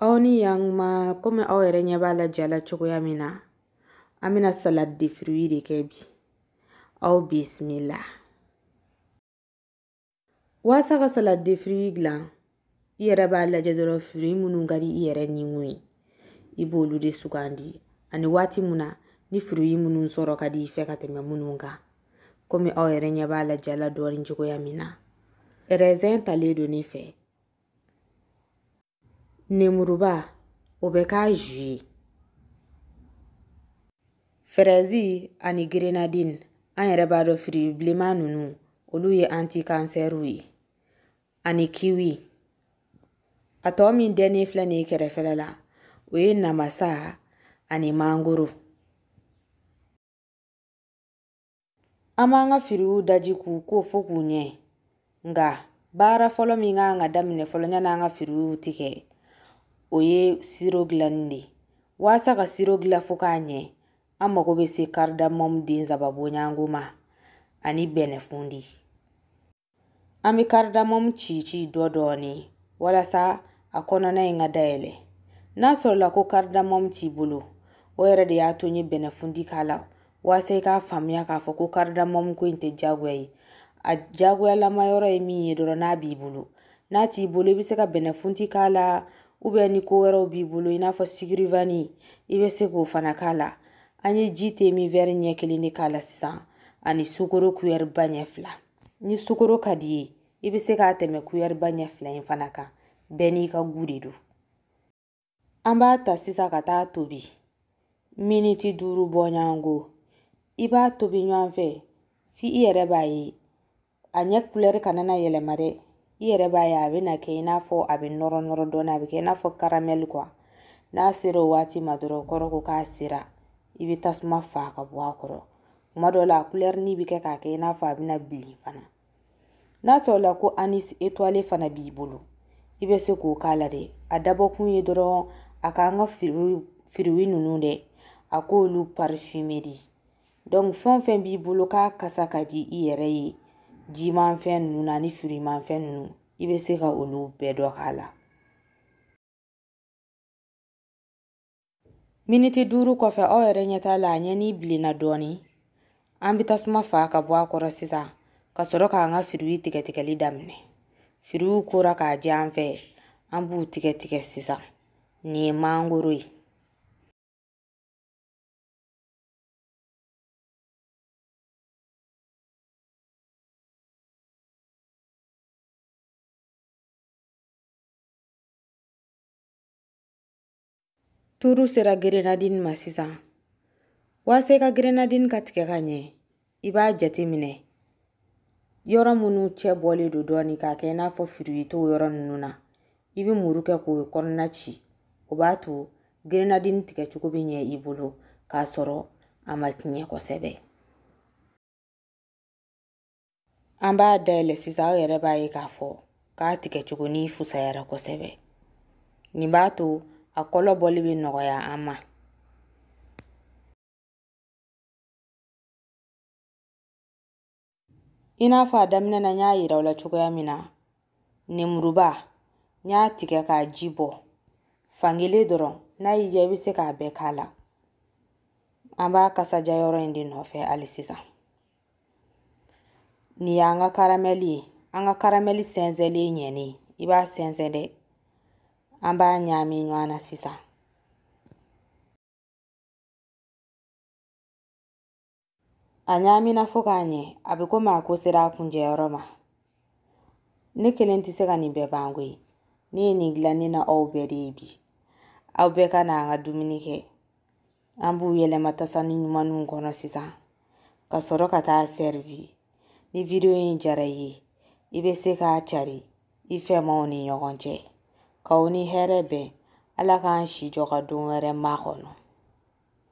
aw ni yan ma komi aw yɛrɛ ɲɛ b'a la ja la cogoya min na an bɛna salade de fruit de kɛ bi aw bisimila waasa ka salade de fruit dilan i yɛrɛ b'a lajɛ dɔrɔn fruit minnu ka di i yɛrɛ ni ŋun ye i b'olu de sugandi ani waati mun na ni fruit minnu sɔrɔ ka di i fɛ ka tɛmɛ minnu kan komi aw yɛrɛ ɲɛ b'a la ja la dɔɔni cogoya min na raisin talen don ne fɛ Nemuruba o bɛ k'a jus ye fɛrɛzi ani gerenadini an yɛrɛ b'a dɔn firi bilenman ninnu olu ye antikansɛriw ye ani kiwi a tɔ min dɛnnen filɛ nin ye kɛrɛfɛla la o ye namasa ani mangoro An b'an ka firiw daji k'u ko fo k'u ɲɛ nka baara fɔlɔ min ka kan ka daminɛ fɔlɔ yanni an ka firiw tigɛ o ye siro dilanni de waasa ka siro dilan fo k'a ɲɛ an mago bɛ se karidamɔmu den saba bɔɲɔgɔnko ma ani bɛnɛfundi An bɛ karidamɔmu ci ci dɔ dɔɔni walasa a kɔnɔna in ka dayɛlɛ. N'a sɔrɔla ko karidamɔmu t'i bolo, o yɛrɛ de y'a to n ye bɛnɛfundi k'a la walasa i k'a faamuya k'a fɔ ko karidamɔmu ko in tɛ diyagoya ye. A diyagoyalama yɔrɔ ye min ye dɔrɔn n'a b'i bolo. N'a t'i bolo i bɛ se ka bɛnɛfundi k'a la ou bien ni ko wɛrɛw b'i bolo i n'a fɔ sucre vanille i bɛ se k'o fana k'a la. An ye ji demi wɛri ɲɛ kelen de k'a la sisan ani sukoro kuyɛriba ɲɛ fila. ni sukoro ka di i ye i bɛ se k'a tɛmɛ kuyɛriba ɲɛ fila in fana kan bɛɛ n'i ka gu de don an b'a ta sisan ka taa tobi miniti duuru bɔɲɔgɔnko i b'a tobi ɲɔgɔn fɛ f'i yɛrɛ b'a ye a ɲɛ kulɛri kana na yɛlɛma dɛ i yɛrɛ b'a ye a bɛna kɛ i n'a fɔ a bɛ nɔrɔ nɔrɔ dɔɔnin a bɛ kɛ i n'a fɔ karamɛli kuwa n'a sera o waati ma dɔrɔn o kɔrɔ ko k'a sera i bɛ tasuma fa ka bɔ a kɔrɔ tuma dɔw la a kulɛrini bɛ kɛ k'a kɛ i n'a fɔ a bɛna bilen fana n'a sɔrɔla ko anis étoilé fana b'i bolo i bɛ se k'o k'a la dɛ a dabɔkun ye dɔrɔn a k'an ka firiw ninnu dɛ a k'olu parfumer de Donc fɛn fɛn b'i bolo k'a kasa ka di i yɛrɛ ye jimanfɛn ninnu na ni firimanfɛn ninnu i bɛ se ka olu bɛɛ dɔ k'a la miniti duuru kɔfɛ aw yɛrɛ ɲɛ t'a la a ɲɛni bilenna dɔɔni an bɛ tasuma fa ka bɔ a kɔrɔ sisan ka sɔrɔ k'an ka firiw tigɛtigɛli daminɛ firiw kora k'a jɛ an fɛ an b'u tigɛ tigɛ sisan nin ye mangoro ye Turu sera gerenadini ma sisan waasa i ka gerenadini ka tigɛ ka ɲɛ i b'a jateminɛ yɔrɔ minnu cɛ bɔlen don dɔɔnin k'a kɛ i n'a fɔ fruit t'o yɔrɔ ninnu na i bɛ muru kɛ k'o yɔrɔ kɔnɔna ci o b'a to gerenadini tigɛcogo bɛ ɲɛ i bolo k'a sɔrɔ a ma tiɲɛ kosɛbɛ an b'a dayɛlɛ sisan aw yɛrɛ b'a ye k'a fɔ k'a tigɛcogo nin fusayara kosɛbɛ nin b'a to a kɔlɔ bɔli bɛ nɔgɔya an ma I n'a fɔ a daminɛ na n y'a yira aw la cogoya min na nemuruba n y'a tigɛ k'a ji bɔ fankelen dɔrɔn n'a y'i diya i bɛ se k'a bɛɛ k'a la an b'a kasa diya yɔrɔ in de nɔfɛ hali sisan nin y'an ka karamɛli ye an ka karamɛli sɛnsɛnlen ɲɛnen i b'a sɛnsɛn dɛ an b'a ɲagami ɲɔgɔn na sisan A ɲagamina fo ka ɲɛ, a bɛ komi a ko sera a kuncɛyɔrɔ ma. Ne kelen tɛ se ka nin bɛɛ ban koyi. Ne ye nin dilan ne n'aw bɛɛ de ye bi. Aw bɛɛ ka na an ka dumuni kɛ. An b'u yɛlɛma tasani ɲumanninw kɔnɔ sisan, ka sɔrɔ ka taa sɛrivi. Ni video in diyara i ye, i bɛ se k'a cari i fɛmaw ni ɲɔgɔn cɛ. K'aw ni hɛrɛ bɛn, Ala k'an si jɔ ka don wɛrɛ makɔnɔ.